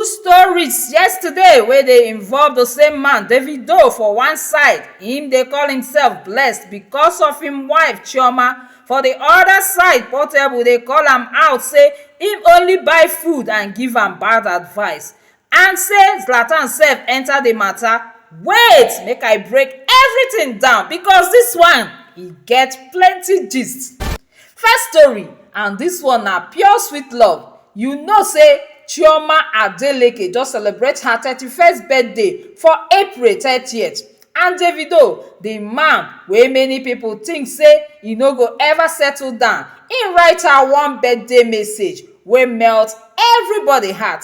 stories yesterday wey dey involve the same man davido for one side im dey call imsef blessed becos of im wife chioma for di oda side portable dey call am out say im only buy food and give am bad advice and say zlatan sef enta di mata wait make i break everytin down becos dis one e get plenty gist First story and this one na pure sweet love you know say Chioma Adeleke just celebrate her thirty first birthday for April thirtieth and Davido the man wey many people think say e no go ever settle down im write her one birthday message wey melt everybody heart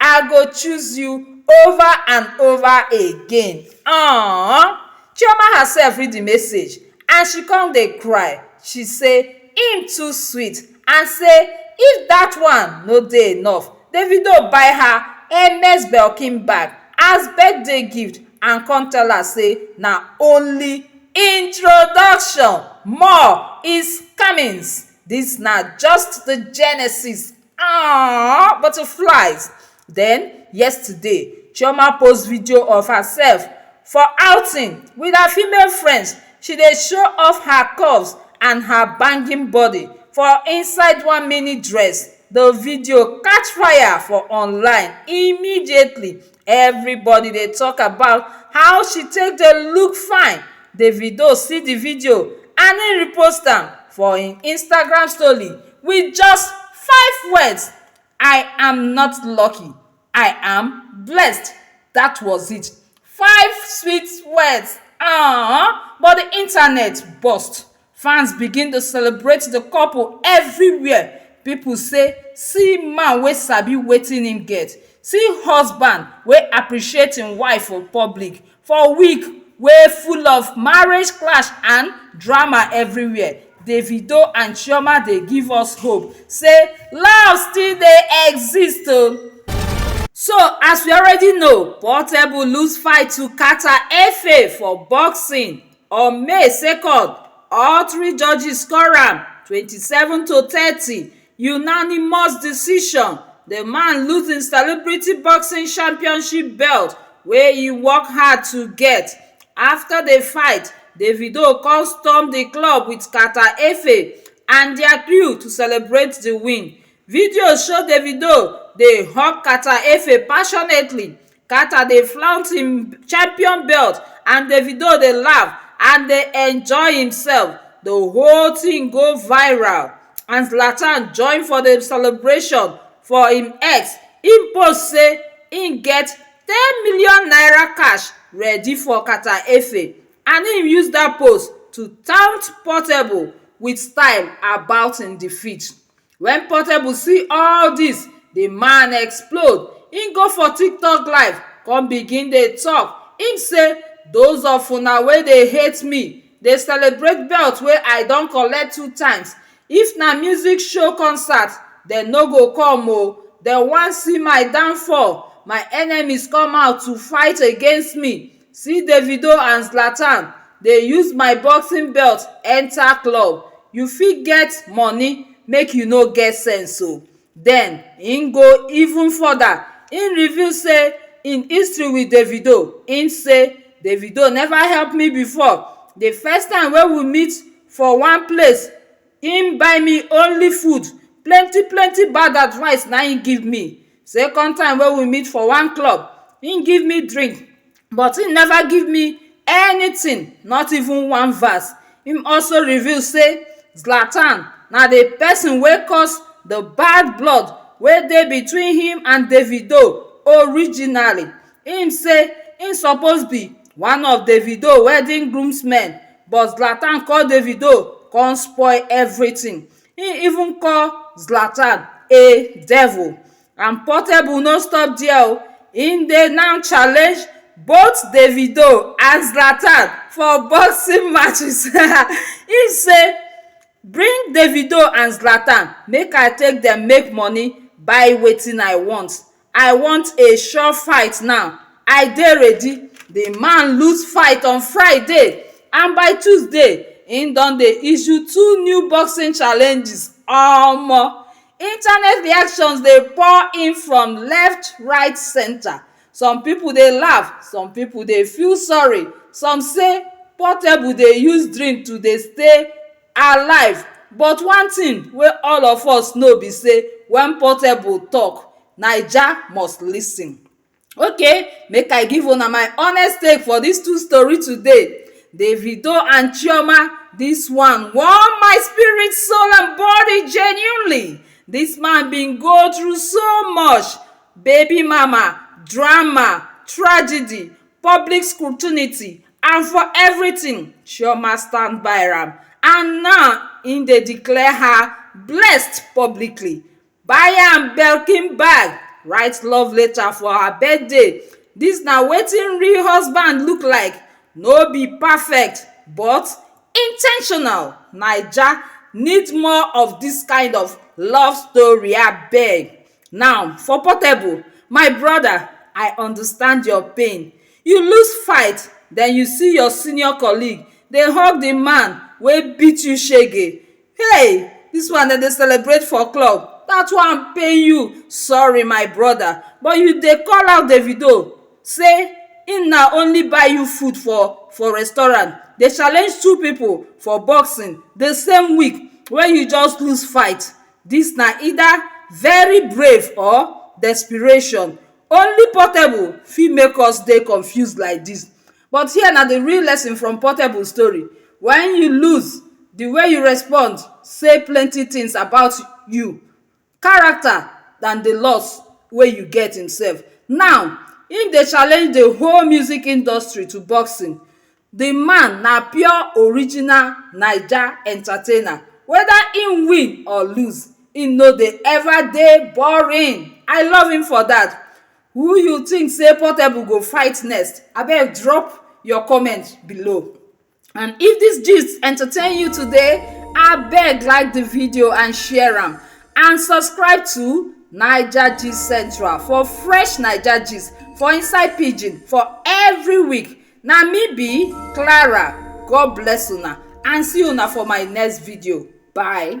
I go choose you over and over again um Chioma herself read the message and she come dey cry. She say im too sweet and say if that one no dey enough, Davido buy her Hermes Belkin bag as birthday gift and come tell her say na only introduction, more is comings. This na just the genesis. Aww butterflies Then yesterday, Chioma post video of herself for outing with her female friends. She dey show off her curves and her banging body for inside one mini dress. The video catch fire for online immediately Everybody dey talk about how she take dey look fine, Davido see the video and he repost am for him Instagram story with just five words, I am not lucky, I am blessed, that was it. Five sweet words, um but the internet burst Fans begin to celebrate the couple everywhere, people say see man wey sabi wetin him get, see husband wey appreciate him wife for public for week wey full of marriage clash and drama everywhere, Davido and Chioma dey give us hope say love still dey exist oh. So as we already know, Portable lose fight to Carter Efe for boxing. on may second all three judges score am twenty seven to thirty unanimous decision the man lose him celebrity boxing championship belt wey he work hard to get after the fight davido come storm the club with carter efe and their crew to celebrate the win video show davido dey hug carter efe passionately Carter dey flaunt im champion belt and Davido dey laugh and dey enjoy himself. The whole thing go viral and Zlatan join for the celebration for im X. Im post say im get ten million naira cash ready for Carter Efe and im use dat post to taunt Portable with style about im defeat. Wen Portable see all dis, di man explode, im go for tiktok live kon begin dey tok, im sey doz of una wey dey hate me, dey celebrate belt wey I don collect two times, if na music show concert dem no go come o, dem wan see my downfall, my enemies come out to fight against me, See Davido and Zlatan dey use my boxing belt enter club You fit get money make you no get sense o Then im go even further, im reveal say im history with Davido, im say Davido never help me before The first time wey we meet for one place im buy me only food, plenty plenty bad advice na im give me Second time wey we meet for one club, im give me drink but im never give me anything, not even one verse. Im also reveal sey Zlatan na the person wey cause the bad blood wey dey between him and Davido originally. Im say im suppose be one of Davido wedding groomsmen but Zlatan call Davido con spoil everything. Im even call Zlatan a devil and Portable no stop there o, im dey now challenge both Davido and Zlatan for boxing matches im say bring Davido and Zlatan make I take dem make money buy wetin I want I want a sure fight now, I dey ready The man lose fight on Friday and by Tuesday, he don dey issue two new boxing challenges Omo! Internet reactions dey pour in from left, right, centre Some people dey laugh, some people dey feel sorry Some say Portable dey use drink to dey stay alive but one thing wey all of us know be sey when portable talk naija must listen okay make i give una my honest take for this two story today davido and chioma this one warm my spirit soul and body genuinely this man been go through so much baby mama drama tragedy public scrutiny and for everything chioma stand by am and now im dey declare her blessed publicly buy am birkin bag write love letter for her birthday dis na wetin real husband look like no be perfect but in ten tional naija need more of dis kind of love story abeg now for portable my brother i understand your pain You lose fight, then you see your senior colleague dey hug the man wey beat you shege. Hey! This one dem dey celebrate for club, that one pain you, sorry my brother, but you dey call out Davido say him na only buy you food for for restaurant, dey challenge two people for boxing the same week wey you just lose fight. Dis na either very brave or desperation, only Portable fit make us dey confused like dis but here na the real lesson from Portable story when you lose the way you respond say plenty things about you, character than the loss wey you get himself. Now him dey challenge the whole music industry to boxing The man na pure original naija entertainer whether him win or lose him no dey ever dey boring I love him for that who you think say portable go fight next abeg drop your comment below and if this gist entertain you today abeg like the video and share am and subscribe to naija gist central for fresh naija gist for inside pidgin for every week Na me be Clara, God bless una and see una for my next video, bye.